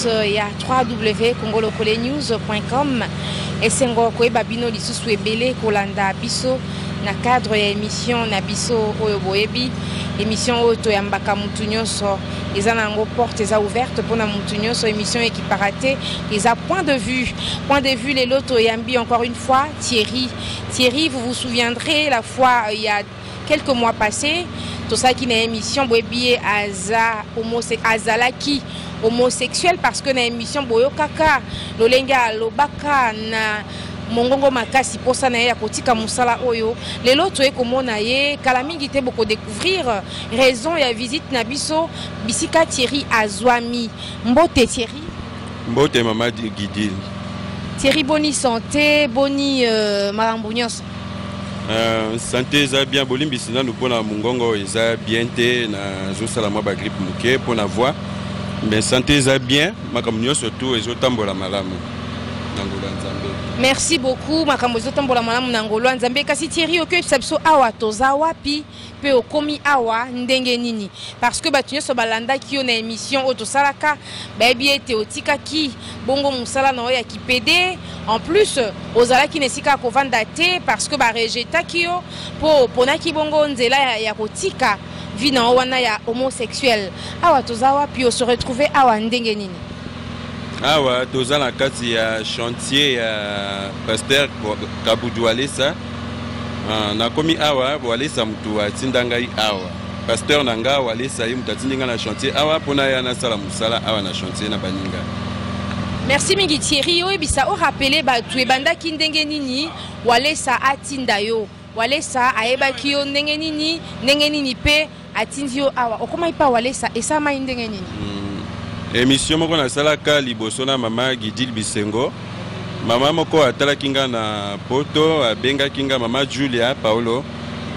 internaute ya 3w congolokole news.com esengo koyeba bino lisusu ebele kolanda biso na cadre ya émission na biso oyo boyebi émission oyo toyambaka motu nyonso eza na yango porte eza ouverte mpona motu nyonso émission ekipaka te eza point de vue point de vue lelo toyambi encore une fois thierry Thierry, vous vous souviendrez la fois euh, il y a quelques mois passés, tout ça qui n'a émission Boebi Aza homosexuel Azalaki homosexuel parce que na émission Boyokaka Lolenga Lobaka na mongongo makasi posa na ye ya kotika mosala oyo lelo toye komona ye kala mingi te bokodécouvrir raison ya visite na biso bisika thierry azwami mbote thierry Mbote mama Gidile. Thierry boni santé boni euh, makambo nyonso. Euh, santé eza bien bolimbisi nanu mpo na mongongo eza bien te nazosala mwa bagripe moke mpo na voix mais santé eza bien makambo nyonso tu ezotambola malamu na ngolo ya nzambe merci beaucoup makambo ezotambola malamu na ngolo ya nzambe kasi thierry okoyebisa biso awa toza wapi mpe okomi awa ndenge nini parce que bato nyonso balandaki yo na émission oyo tosalaka bayebi ete otikaki bongo mosala na yo ya kipede en plus ozalaki na esika ya kovanda te parce que barejetaki yo mpo oponaki bongo nzela ya, ya kotika vie na yo wana ya homosexuel awa toza wapi ose retrouve awa ndenge nini awa toza na kati ya chantier ya pasteur kabudwalesa Ah, nakomi awa walesa motu atinda ngai awa pasteur na ngai walesa ye motu atindi ngai na chantier awa mpo na ya nasala mosala awa na chantier na baninga merci mingi thierry oyebisa orapele bato ebandaki ndenge nini walesa atinda yo walesa ayebaki yo ndenge nini ndenge nini mpe atindi yo awa okomaki mpa walesa esalamaki ndenge nini hmm. emission moko nasalaka liboso na mama gidil bisengo mama moko atalaki nga na poto abengaki nga mama julia paolo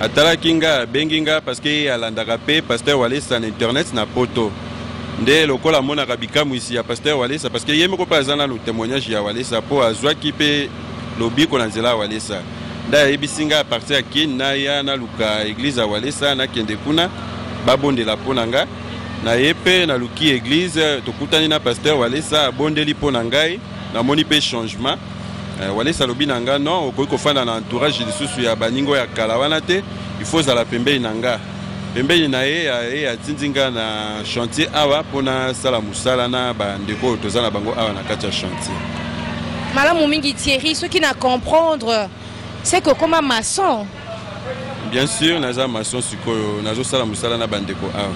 atalaki nga abengi nga parceke ye alandaka mpe paster walesa na internet na poto nde lokola amonaka bikamwisi ya paster walesa parceke ye moko mpe aza nano témoignage ya walesa mpo azwaki mpe lobiko na nzela ya walesa nda ayebisi nga apartir ya keni naya naluka eglise ya walesa nakende kuna babondela mpo na nga na ye mpe naluki eglise tokutani na pasteur walesa abondeli mpo na ngai namoni mpe changement eh, walesa alobi na nga non okoki kofanda na entourage lisusu ya baningo ya kala wana te il faut ozala pembeni na nga pembeni na ye ye atindi nga na chantier awa mpo nasala mosala na bandeko oyo toza na bango awa na kati ya chantier malamu mingi thierry soki na comprendre se kokoma maçon bien sûr naza maçon sikoyo nazosala mosala na bandeko awa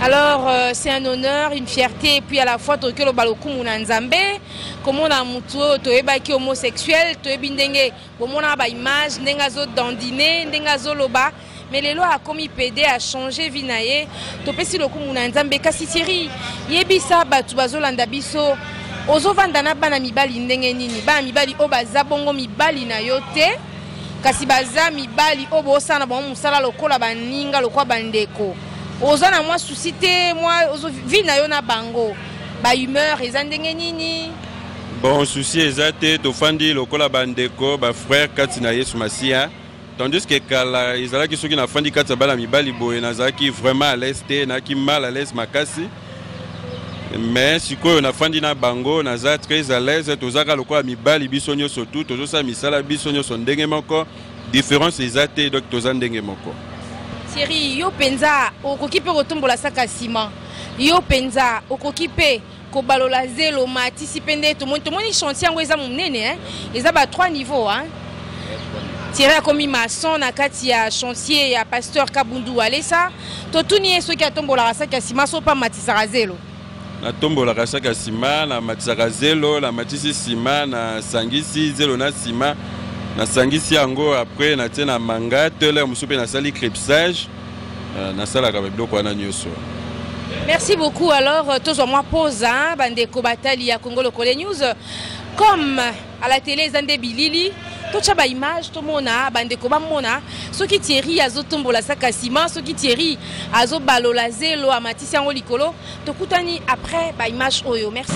alors euh, c'est un honneur une fierté et puis à la fois tokoki oloba lokumu na nzambe komona motu oyo toyebaki homosexuel toyebi ndenge bomonaka ba image ndenge azo dandine ndenge azoloba mais lelo akomi pede achange vie na ye topesi lokumu na nzambe kasi thierry yebisa bato bazolanda biso ozovanda na bana mibali ndenge nini bana mibali oyo baza bongo mibali na yo te kasi baza mibali oyo bosala na bango mosala lokola baninga lokola bandeko oza na mwa susi te mwa vi na yo na bango bahumeur eza ndenge nini Bon, souci eza te, tofandi lokola bandeko, ba frères kati na Yesu Masiya. Tandis que kala ezalaki soki nafandi kati ya bana mibali boye nazalaki vraiment à l'aise te, naki mal à l'aise makasi. Mais sikoyo nafandi na bango, naza très à l'aise, tozaka lokola mibali biso nyonso tout, tozosala misala biso nyonso ndenge moko, différence eza te, donc toza ndenge moko. Thierry, yo penza okoki pe kotombola saka sima. Yo penza okoki pe kobalola zelo matisi mpe nde tomoni tomoni chantier yango eza monene hein? eza ba trois niveau hein? tiere akomi maçon na kati ya chantier ya pasteur kabundu walesa totuni ye soki atombolaka saki ya sima so mpe amatisaka zelo natombolaka saki ya sima namatisaka zelo namatisi sima nasangisi zelo na sima nasangisi yango apres natie na manga tele mosusu mpe nasali crepsage Euh, nasalaka biloko wana nyonso merci beaucoup alors euh, tozwa mwa posa bandeko batali ya congo lokole news comme à la télé eza nde bilili totya baimage tomona bandeko bamona soki thierry azotombola saka nsima soki thierry azobalola zelo amatisi yango likolo tokutani après ba image oyo merci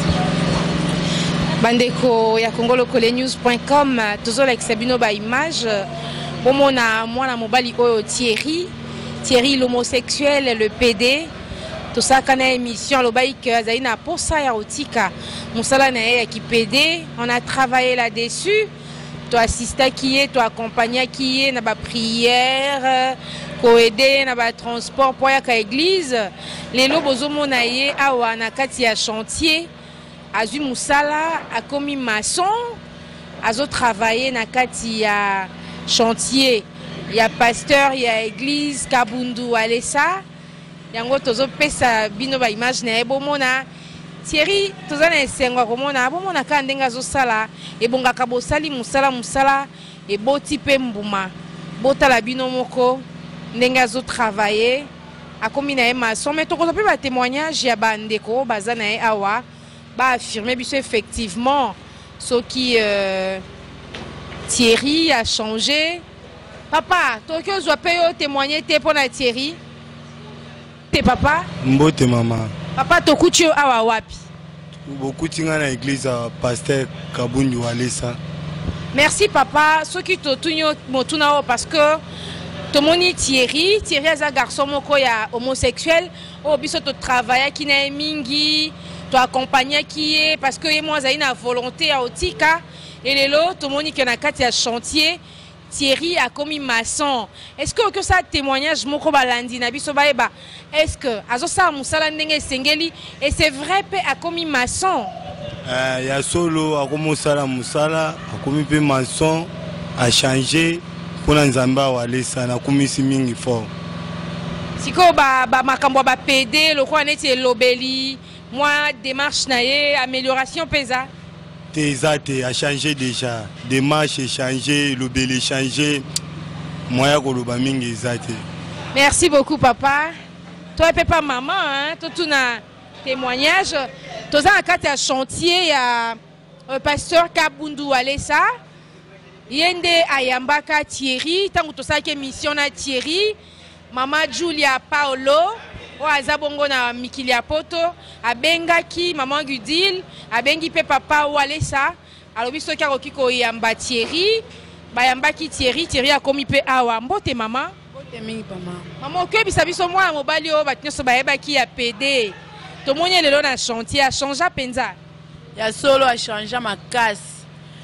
bandeko ya congolokolenews.com tozolakisa bino ba image bomona mwana mobali oyo thierry thierry l'homosexuel le pd tosalaka na émission alobaki ke azali na posa ya kotika mosala na ye ya kipede on a travaille là dessus To assistaki ye, to accompagnaki ye na ba prières, ko aider ye na ba transports mpo ayaka église. Lelo bozomona ye awa na kati ya chantier, azwi mosala, akomi maçon, azo travailler na kati ya chantier ya pasteur ya église Kabundu Walesa. yango tozopesa bino ba image na ye bomona thierry toza na esengo ya komona bomona kaka ndenge azosala ebongaka bosali mosala mosala eboti mpe mbuma botala bino moko ndenge azotravaille akomi na ye mason mai tokozwa mpe batémoignage ya bandeko oyo baza na ye awa baaffirme biso effectivement soki euh, thierry achange Papa, toki ozwa pe yo témoigner te pona Thierry. Te papa. Mbote mama. Papa tokuti yo awa wapi? Bokuti nga na église ya pasteur Kabundu Walesa. Merci papa, soki totuni yo motuna oyo parce que tomoni Thierry, Thierry aza garçon moko ya homosexuel oyo biso to travaillaki na ye mingi, to accompagnaki ye parce que ye moko azali na volonté ya otika Et lelo tomoni que na kati ya chantier Thierry akomi maçon. Est-ce que okoki osala témoignage moko balandi na biso bayeba est-ce que azosala mosala ndenge esengeli et c'est vrai mpe akomi maçon eh, ya solo akomi osala mosala akomi mpe maçon achange mpo na nzambe awa alesa nakumisi mingi fort sikoyo bamakambo ba, ba ya bapede lokola neti elobeli mwa demarche na ye amélioration mpe eza te eza te achange déjà demarche echange elobeli echange moya koloba mingi eza te merci beaucoup papa toi mpe pa mama totuna témoignage toza na kati ya chantier ya euh, pasteur kabundu alesa ye nde ayambaka thierry ntango tosalaki émission na thierry Mama Julia Paolo oyo aza bongo na mikili ya poto abengaki mama Gudile, abengi mpe papa Walesa, alobi soki akoki koyamba Thierry. Bayambaki Thierry, Thierry akomi mpe awa. Mbote mama. Mbote mingi mama. Mama okoyebisa biso mwana mobali oyo bato nyonso bayebaki ya pede tomoni lelo na chantier achange mpenza. ya solo achangea makasi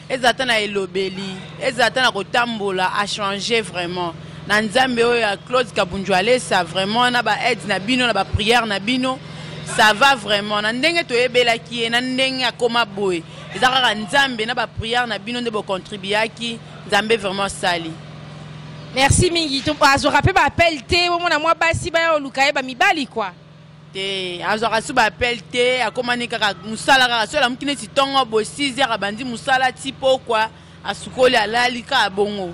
ezala ata na elobeli ezala ata na kotambola achange vraiment na nzambe oyo ya claude kabunju alesa vraiment na baaide na bino na bapriere na bino ça va vraiment na ndenge toyebelaki ye na ndenge akoma boye eza kaka nzambe na bapriere na bino nde bocontribuaki nzambe vraiment asali merci mingi azoka mpe baappel te omona mwa basi baya oluka ye bamibali kua te azwaka su baapele te akomani kaka mosala kaka soki alamuki neti ntongo boye 6 heures abandi mosala ti pokwa asukoli alali kaka bongo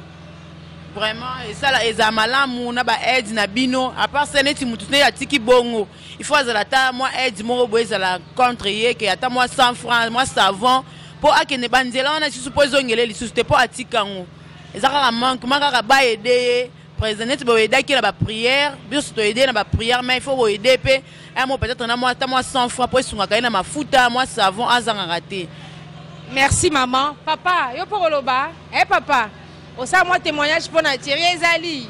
vraiment esala ezala malamu na baaide na bino apart se neti motu neti atiki bongo il faut azala ata mwa aide moko boye ezala contre ye ke ata mwa 100 franc mwa savon mpo akende banzela wana lisusu mpo ezongele lisusu te mpo atika yango eza kaka manquema kaka baede ye Président neti bo aidaki na ba prière, biso to aider na ba prière mais il faut bo aider pe un mot peut-être na moi ta moi 100 francs pour sungaka ye na mafuta, moi savon azanga raté. Merci maman. Papa, yo pour koloba, eh papa, osala moi témoignage pour na Thierry ezali.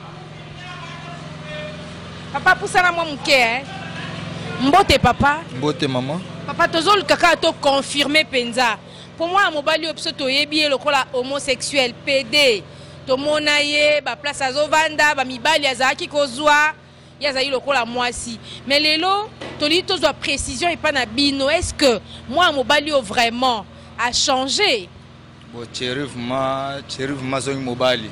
Papa pusana moi moke hein. Mbote papa. Mbote maman. Papa tozol kaka to confirmer penza. Pour moi mobali oyo biso toyebi ye lokola homosexuel, PD. tomona ye baplace azovanda bamibali azalaki kozwa ye azali lokola mwasi mais lelo tolingi tozwa précision epai na bino est ce que mwana mobali oyo vraiment achange bo cherivema cherivema soki mobali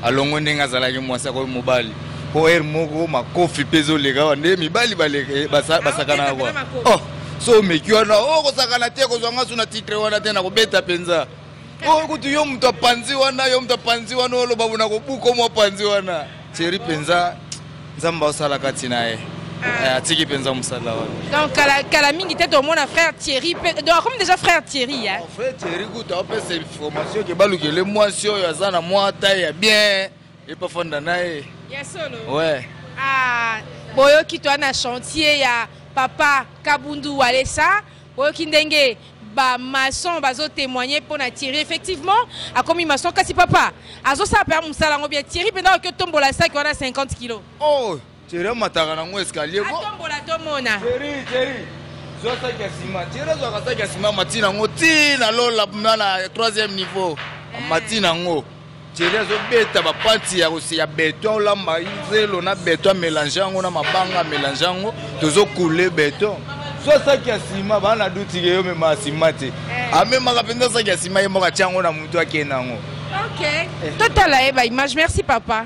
alongo ndenge azalaki mwasi akoki mobali mpo ere moko makofi mpe ezoleka awa nde mibali eh, basakanaka kwa oh, so omeki wana okosakana oh, te kozwa ngasu na titre wana te nakobeta mpenza oyo kutu yo moto apanzi wana yo moto apanzi wana oloba bona kobuko mwa panzi wana seri mpenza nzambe aosala kati na ye ah. eh, atiki mpenza mosala wana donc kala, kala mingi te tomona frère thierry donc akomi déjà frère thierry ya frère thierry kutu aopesa information ke balukele mwasi oyo aza na mwa taille ya bien epafanda na ye ya solo ouais. ah, boyoki to na chantier ya papa kabundu walesa Boyoki ndenge ba maçon bazo témoigner pona Thierry effectivement akomi maçon kasi papa azo sala pe musala ngo bien Thierry penda ko tombola sac wana 50 kg oh Thierry mataka na ngo escalier ko tombola to mona Thierry Thierry zo sac ya sima Thierry zo ka sac ya sima matina ngo ti na lola na 3e niveau eh. matina ngo Thierry azobeta bapanti ya ya beton olamba zelo na beton amelange yango na mabanga amelange yango tozokule beton so saki ya nsima baa na duti ke yomema nsima te eh. amemaka mpenza saki ya nsima ye moko atya yango na motu akende yango totala ye baimage merci papa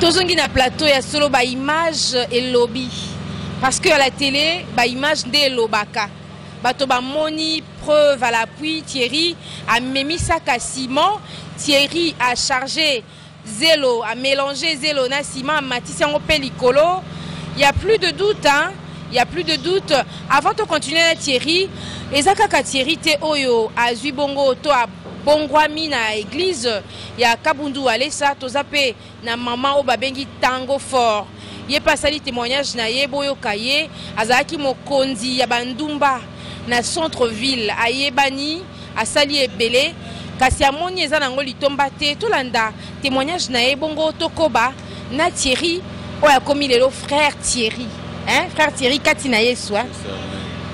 tozongi na plateau ya solo ba image elobi parce que à la télé ba image nde elobaka bato bamoni preuve à l'appui thierry amemisaka ciment thierry a chargé zelo a mélange zelo na ciment amatisi yango mpe likolo il y a plus de doute hein? il y a plus de doute avant to continuer na thierry eza kaka thierry te oyo azwi bongo to abongwami na église ya Kabundu Walesa toza pe na maman oyo babengi Tango Fort ye mpe asali témoignage na ye boyoka ye azalaki mokonzi ya bandumba na centre ville ayebani asali ebele kasi amoni eza nango litomba te tolanda témoignage na ye bongo tokoba na thierry oyo akomi lelo frère thierry hein? frère thierry kati na yesu hein?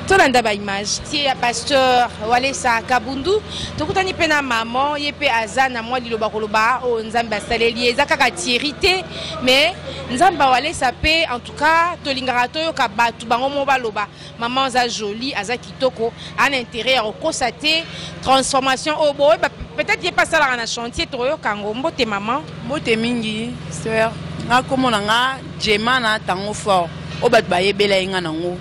tolanda baimage tie ya pasteur walesa kabundu tokutani mpe na maman ye mpe aza na mwa liloba koloba oyo oh, nzambe asaleli ye eza kaka thierry te mais nzambe awalesa mpe en tout cas tolingaka toyoka bato bango moko baloba maman aza jolie aza kitoko ana intérêt ya kokosa te transformation oyo oh, boye peut-être ye mpe asalaka na chantier tokoyoka yango mbote maman mbote mingi sœur nga nkombo na nga jema na tango fort oyo bato bayebela ye nga nango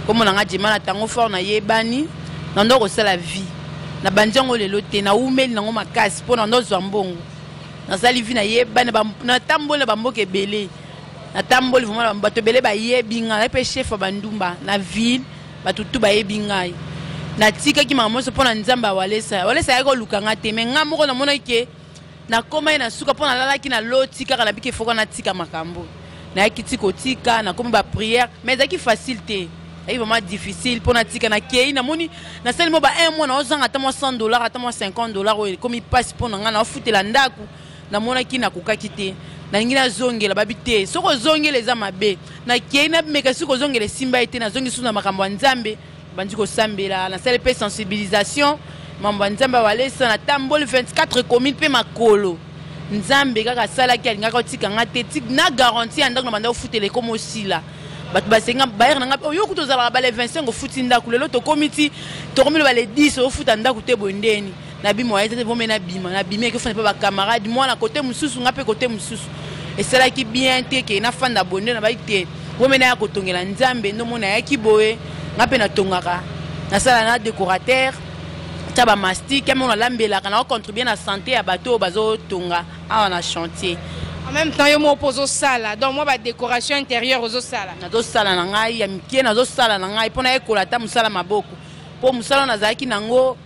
nkombo na nga jema na tango fort nayebani na ndo kosala vie na bandi yango lelo te naumeli nango makasi mpo na ndo zwa mbongo nasali vie nayebani natamboli na bamboka ebele natamboli vraiment na bato ebele bayebi ngai nayebi mpe chef ya bandumba na ville bato tu bayebi ngai natikaki makambo nyonso mpo na nzambe ya walesa walesa ayaki koluka ngai te mai ngai moko namonaki ke nakomaki na suka mpo nalalaki na loti kaka nabiki efoka natika makambo nayaki ti kotika nakomi bapriere mai ezalaki facile te ezalaki vraiment difficile mpo natika nakei namoni nasali mo ba un mois naozanga ata mwa 100 dollar ata mwa 50 dollar oyo ekomi mpasi mpo na ngai naofutela ndako namonaki nakokaki te nalingi nazongela babi te soki ozongela eza mabe nakei nameka soki kozongela esimba ye te nazongi susu na makambo ya nzambe bandi kosambela nasali mpe sensibilisation mambo ya nzambe awalesa natamboli 24 commune mpe makolo nzambe kaka asalaki alingaka otika nga te na garanti ya ndako na banda ofutela ekoma osila bato basenga bayere na ngai oyo kutu ozalaka bale 25 ofuti ndako lelo tokomi ti tokomi loba le 10 ofuta ndako te boye ndeni nabi moyen te vome nabima nabimi eke ofanda mpe bacamarade mwana kote mosusu nga mpe kote mosusu esalaki bien te ke nafanda boye nde nabaki te vome naya kotongela nzambe ndo mona ayaki boye nga mpe natongaka nasala na décorateur tya bamastique ya moko nalambelaka na ocontribue na santé ya bato oyo bazotonga awa na chantier en même temps yo moko mpo ozosala donc mwa badécoration intérieure ozosala nazosala na ngai ya mike nazosala na ngai mpo nayekola ata mosala maboko mpo mosala nazalaki nango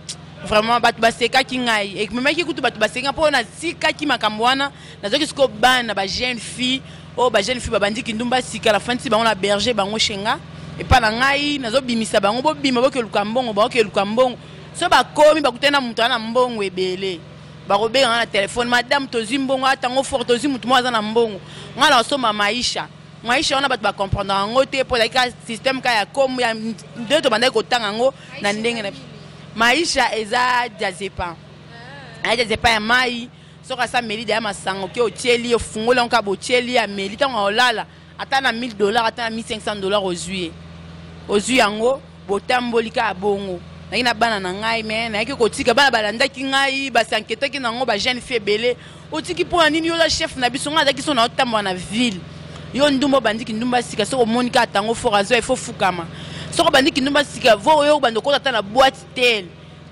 vraiment bato basekaki ngai ekimemaki kutu bato basenga mpo natikaki makambo wana nazoki sikoyo bana ba jeune fille oyo oh, ba jeune fille babandi kindumba sika nafandisi bango na berger bango shenga epai na ngai nazobimisa bango bobima bokeluka mbongo baokeluka mbongo so bakomi bakutani na moto ana mbongo ebele bakobenga nga na telefone madame tozwi mbongo atango fort tozwi motu moko aza na mbongo ngai naosomba maisha maisha wana bato bacomprendre yango te mpo ezalaki ka système ka ya komo ya nde tobandaki kotanga yango na ndenge na maisha eza jazepa ah. aya jazepa ya mai soki asa meli deya masango ke otyeli ofungoli yango kaka botyeli ameli ntango aolala ata na 1000 dollar ata na 1500 dollar ozwi ye ozwi yango botamboli kaka bongo nayaki na bana na ngai me nayaki kotika bana balandaki ngai basi anketaki na yango bajeune fi ebele otiki mpo na nini yo oza chef na biso ngai azaki so na otambola na ville yo ndumba obandi kindumba sika soki omoni kaka tango fort azoya ifo fukama soki obandi kindumba sika vo yo obanda okota ata na boite tel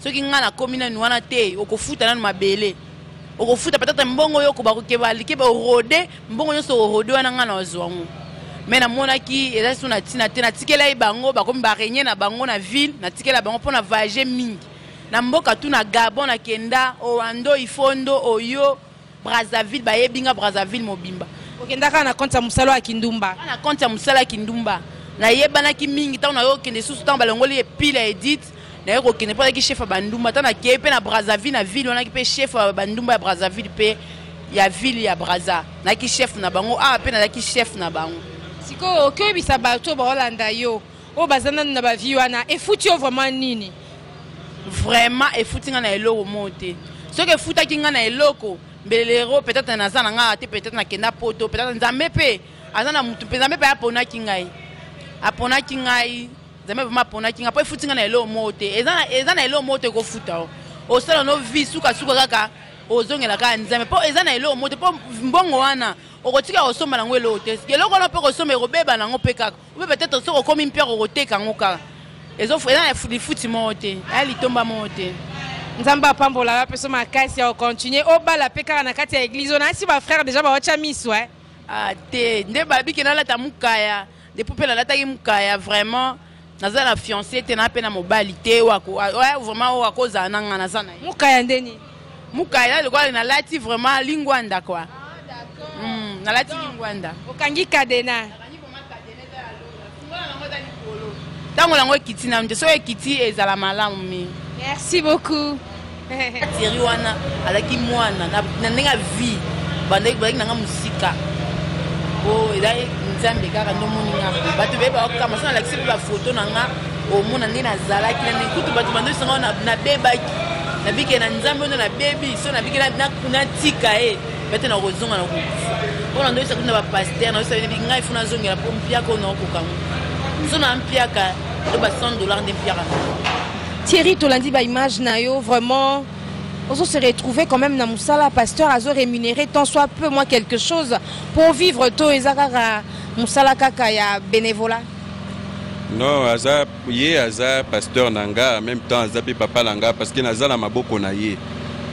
soki ngai nakomi nanu wana te okofuta nanu mabele okofuta patata mbongo yo okoba kokeba likeba orode mbongo nyonso orode wana ngai na ozwa yango me namonaki eza so na ntina te natikela ye bango bakomi barenye na bango na ville natikela bango mpo na vage mingi na mboka tu na gabon na kenda owando ifondo oyo brazzaville bayebi nga brazzaville mobimba okendaka na konte ya mosala ya kindumba na konte ya mosala ya kindumba nayebanaki mingi ntango nayo okende susu ntango balongoli epile ya edite naye kokende mpo azalaki chef ya bandumba ntango nakei mpe na brazzaville na ville wanaki mpe chef ya bandumba ya brazzaville mpe ya ville ya brazza nayaki chef na bango awa mpe nazalaki chef na bango sikoyo okoyebisa bato baolanda yo oyo baza nanu na ba vie wana efuti yo vraiment nini vraiment efuti nga na eloko moo te soki efutaki nga na eloko mbelelero peut-être naza na nga te peut-être nakenda poto peut-être nzambe mpe aza na motu mpe nzambe mpe aponaki ngai aponaki ngai nzambe vraimen aponaki ngai mpo efuti ngai na eloko moko te eza na eloko moko te ekofuta o osala no vi sukasuka kaka ozongela kaka nzambe mpo eza na eloko moko te mpo mbongo wana okotika kosomba nango eloko te eloko wana mpe okosomba ekobeba nango mpe kaka Ou peut être soki okomi mpere okoteka yango kaka eza lifuti moko te aya litomba moko te nzambe apambola yo apeso makasi ya ocontinue obala mpe kaka na kati ya eglize oyo nasi bafrère deja bawatya miso e ah, te nde babike nalata mokaya depuis mpe nalataki mokaya vraiment naza na fiancé te na mpe na mobali te oyo vraiment oyo akozala na ngai naza na ye mokaya ndeni Mukaya lokola na lati vraiment lingwanda quoi. Hmm, na lati lingwanda. Okangi cadena. Tango lango ekiti na mte so ekiti ezala malamu mi. Merci beaucoup. Thierry wana alaki mwana na ndenge ya vie bandaki balaki nanga mosika po ezali nzambe kaka nde omoni nga bato beye bakokama so nalakisi mpe bafoto na nga omona nde nazalaki na nekutu bato bandosanga nabebaki nabike na nzambe oyo nabebi so nabike natika ye bete nakozonga nakokufa mpo na ndoyisa kuna bapaster nayosa bebi ngai fo nazongela mpo mpiaka oyo naokokango so na mpiaka to ba 100 dollar nde mpiaka thierry tolandi baimage na yo vraiment ozo se retrouver quand même na mosala pasteur azo rémunéré tant soit peu moi quelque chose pour vivre to eza kaka mosala kaka ya bénévolat non aza Ye aza pasteur na nga en meme temps aza pe papa na nga parce que naza na maboko na ye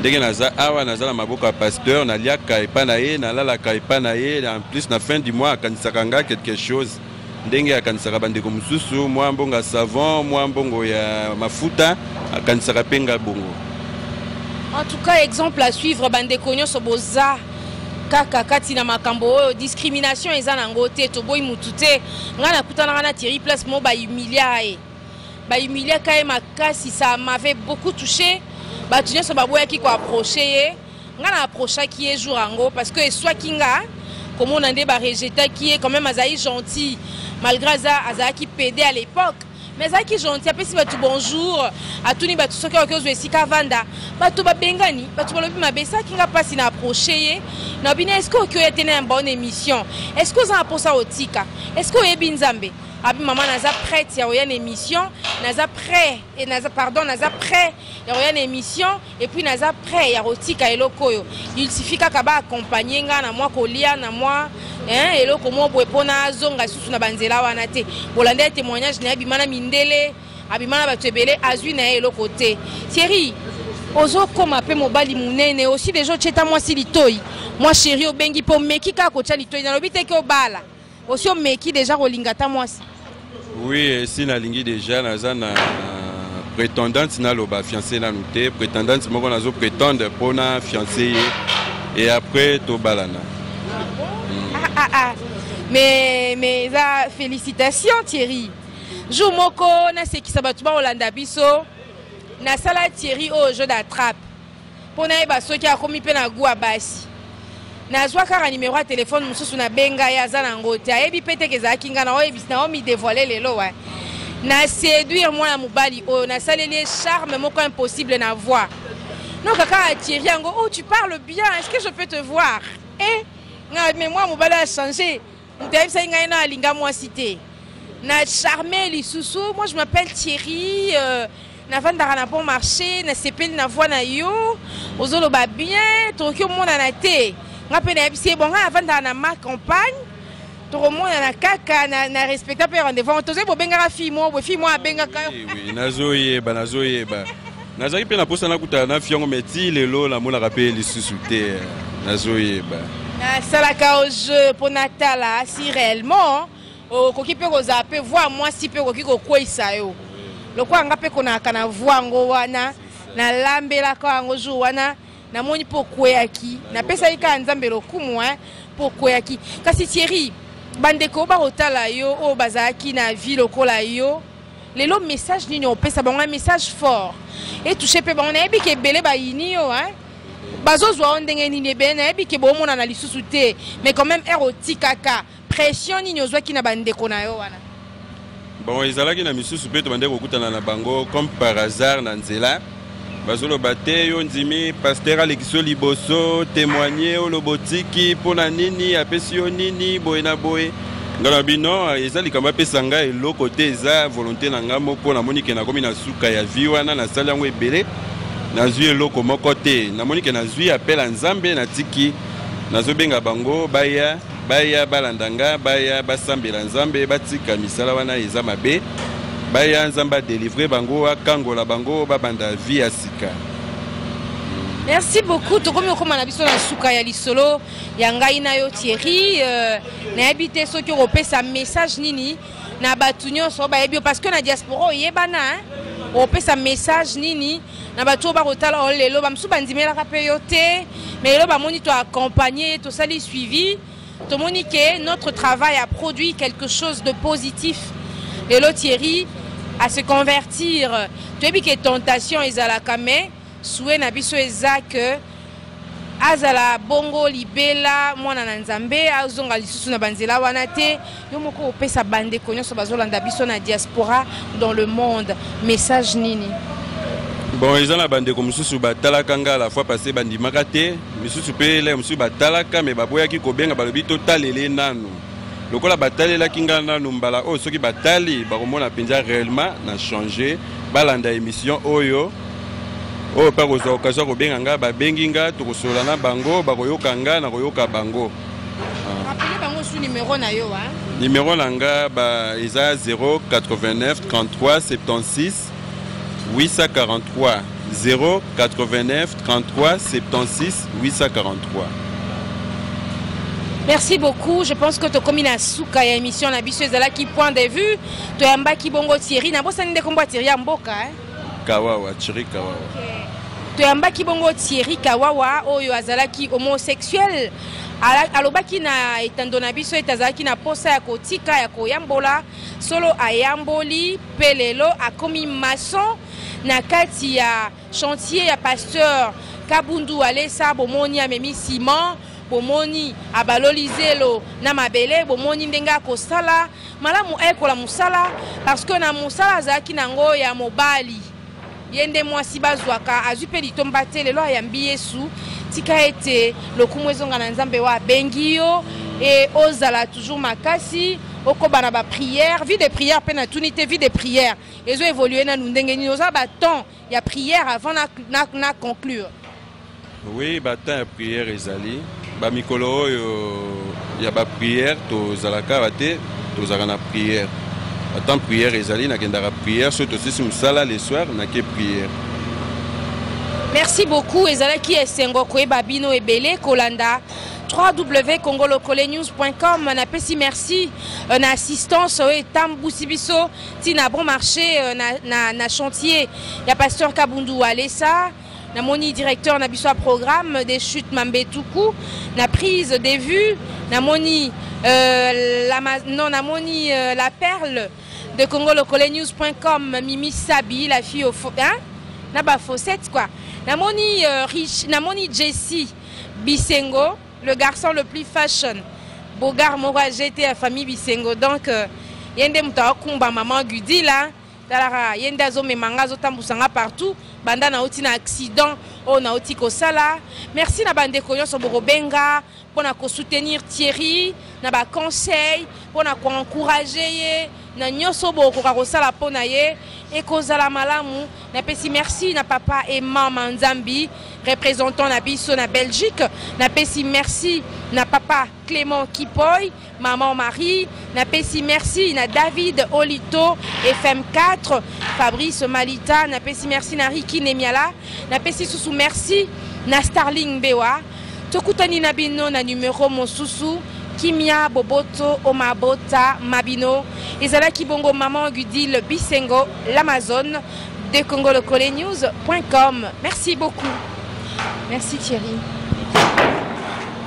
ndenge naza awa naza na maboko ya pasteur naliaka epa na ye nalalaka epa na ye en plus na fin du mois akanisaka nga quelque chose ndenge akanisaka bandeko mosusu mwa mbongo ya savon mwa mbongo ya mafuta akanisaka pe nga bongo en tout cas exemple à suivre bandeko nyonso boza kaka kati na makambo oyo discrimination eza na yango te toboyi mutu te ngai nakutanaka na thierry place mo bahumilia ye bahumiliaka ye makasi ça m'avait beaucoup touché bato nyonso baboyaki koaproche ye ngai na aprochaki ye jour yango parce que eswaki nga komona nde barejetaki ye quand même azali gentil malgré aza azalaki pede à l'époque mais azalaki gentil apesi bato bonjour atuni bato soki akoki ozwa esika avanda bato babengani bato balobi mabe esalaki nga mpasi na approche ye na bino estce oki oya te na yamba ona émission estce oza na mposa otika estce oyebi nzambe abi mama naza prête ya koya na émission naza prêt naza pardon naza prêt ya koya na émission et puis naza prêt ya kotika eloko oyo il suffit kaka ba accompagner nga na mwa kolia na mwa hein, eloko moko boye mpo nazonga lisusu na banzela wana te bolanda ye témoignage na ye abima na mindele abima na bato ebele azwi na ye eloko te thierry ozokoma mpe mobali monene osi deja otyeta mwasi litoi mwa sheri obengi mpo omeki kaka kotya litoi nalobi te ke obala osi omeki deja kolinga ata mwasi oui esi nalingi deja naza na prétendante naloba fiancé nanu te prétendante moko nazo prétendre mpo na fiancé ye et après tobalana mm. ah, ah, ah. mais mais eza félicitation thierry jour moko nasekisa bato bakolanda biso nasala thierry oyo jeu d'attrape mpo nayeba soki akomi mpe na gua basi nazwa kaka nimero ya telefone mosusu nabenga ye aza na yango te ayebi mpe teke ezalaki ngai naomidevoile lelo wa na séduire mwana mobali oyo nasaleli ye charme moko impossible na voi non kaka atiri yango oh tu parle bien est ce que je peux te voir e eh, ngai mais mwana mobali achange moto ayebisaki ngai na alinga mwasi te na charme lisusu moi je m'appelle thierry euh, navandaka na bon marché nasepeli na voi na yo ozoloba bien tokoki omonana te nga mpe nayebisi ye bonga navandaka na ma campagne tokomonana kaka na, na respecta mpe rendez-vous tozali bobengaka fille moko boye fille moko abengaka nazoyeba nazoyeba nazalaki mpe na mposa nakutana na fille yango mais ti lelo namonaka mpe lisusu te nazoyeba nasalaka o jeu mpo natala si réellement okoki mpe kozala mpe voi mwasi mpe okoki kokweisa yo lokola nga mpe konaka na voi yango wana nalambelaka yango jour wana namoni mpo okweyaki napesaki kaka nzambe lokumu hein, mpo okweyaki kasi thierry bandeko bakotala yo oyo bazalaki na vie lokola yo lelo message nini opesa bango message fort etouche mpe bango nayebi ke ebele bayini yo hein? bazozwa yo ndenge nini ebele nayebi ke bomonana lisusu te mais quand même ere otikaka Pression nini ozwaki na bandeko na yo wana? Bon, ezalaki na misusu mpe tobandaki kokutana na bango comme par hasard na nzela bazoloba te yo ndimi paster alekisi yo liboso temoigne oloba otiki mpo na nini apesi yo nini boye na boye ngai na bino eza likambo apesa ngai eloko te eza volonté na ngai moko namoni ke nakomi na suka ya vie wana nasali yango ebele nazwi eloko moko te namoni ke nazwi apela nzambe natiki nazobenga bango baya Baya balanda nga, baya basambela Nzambe, batika misala wana eza mabe. Baya Nzambe a delivrer bango, akangola bango, babanda vie ya sika. merci beaucoup tokomi kokóma na biso na suka ya lisolo ya ngai na yo thierry euh, nayebi te soki okopesa message nini na bato nyonso bayebi yo parce que na diaspora oyebana okopesa message nini na bato oyo bakotala yo lelo bamosusu bandimelaka mpe yo te mais lelo bamoni to accompagne ye tosali suivi tomoni ke notre travail a produit quelque chose de positif lelo thierry à se convertir toyebi ke tentation ezalaka mais souhait na biso eza que azala bongo libela mwana na nzambe azonga lisusu na banzela wana te yo moko opesa bandeko nyonso bazolanda biso na diaspora dans le monde message nini bon eza na bandeko mosusu batalaka nga la fois passé bandimaka te misusu mpe elai mosusu batalaka me baboyaki kobenga balobi totalele nanu lokola batalelaki ngai nanu mbala oyo soki batali bakomona mpenza réellement na change balanda émission oyo oyo mpe akozwa okazio ya kobenga ngai babengi ngai tokosolola na bango bakoyoka ngai na koyoka bango nimero na ngai eza 089 33 76 843 089 33 76 843. Merci beaucoup. Je pense que tokomi na suka ya émission na biso ezalaki point de vue. Toyambaki bongo Thierry. Na bosani nde kombo Thierry ya mboka. Hein? Kawawa, Thierry Kawawa. Okay. Toyambaki bongo Thierry Kawawa oyo azalaki homosexuel. Alobaki na etando na biso ete azalaki na posa ya kotika ya koyambola Solo ayamboli pe lelo akomi maçon na kati ya chantier ya pasteur Kabundu Alesa bomoni amemi ciment bomoni abaloli zelo na mabele bomoni ndenge akosala malamu ayekola mosala parce que na mosala azalaki nango ya mobali ye nde mwasi bazwaka azwi mpe litomba te lelo ayambi yesu tika ete lokumu ezonga na nzambe oyo abengi yo e ozala toujours makasi okoba na baprière vie de prière mpe natuni te vie de prière ezo évolue nanu ndenge nini oza batemps ya prière avant na, na, na conclure Oui, ba temps ya prière ezali. Ba mikolo oyo ya ba prière tozalaka ba te, tozalaka na prière. Ba temps prière ezali nakendaka prière soki tosisi mosala le soir nake prière. Merci beaucoup ezalaki esengo koyeba bino ebele kolanda www.congolokolenews.com na pesi merci euh, na assistance oyo euh, etambusi biso ntina bon marché euh, na, na, na chantier ya pasteur kabundu walesa namoni directeur na biso ya programme des chutes mambetuku na prise de vue namoni euh, la, non namoni euh, la perle de congolocolenews.com mimi sabi la fille au hein? na ba fossette quoi namoni euh, rich namoni jessie bisengo le garçon le plus fashion bogar moko ajete ya famille bisengo donc euh, ye nde moto aokumba mama gudi la tala kaka ye nde azomema nga azotambusa nga partout banda nauti na accident oyo nauti kosala merci na bandeko nyonso bokobenga mpo na kosoutenir thierry na baconseil mpo na koencourage ye na nyonso bokoka kosala mpo na ye ekozala malamu napesi merci na papa e mama nzambi représentant na biso na belgique napesi merci na papa clément kipoy Maman Marie, na pesi merci na David Olito FM4, Fabrice Malita, na pesi merci na Ricky Nemiala, na pesi susu merci na Starling Bewa. Tokutani na bino na numero mosusu kimia boboto o mabota mabino ezalaki bongo maman gudile bisengo l'amazone de congolocolenews.com merci beaucoup merci thierry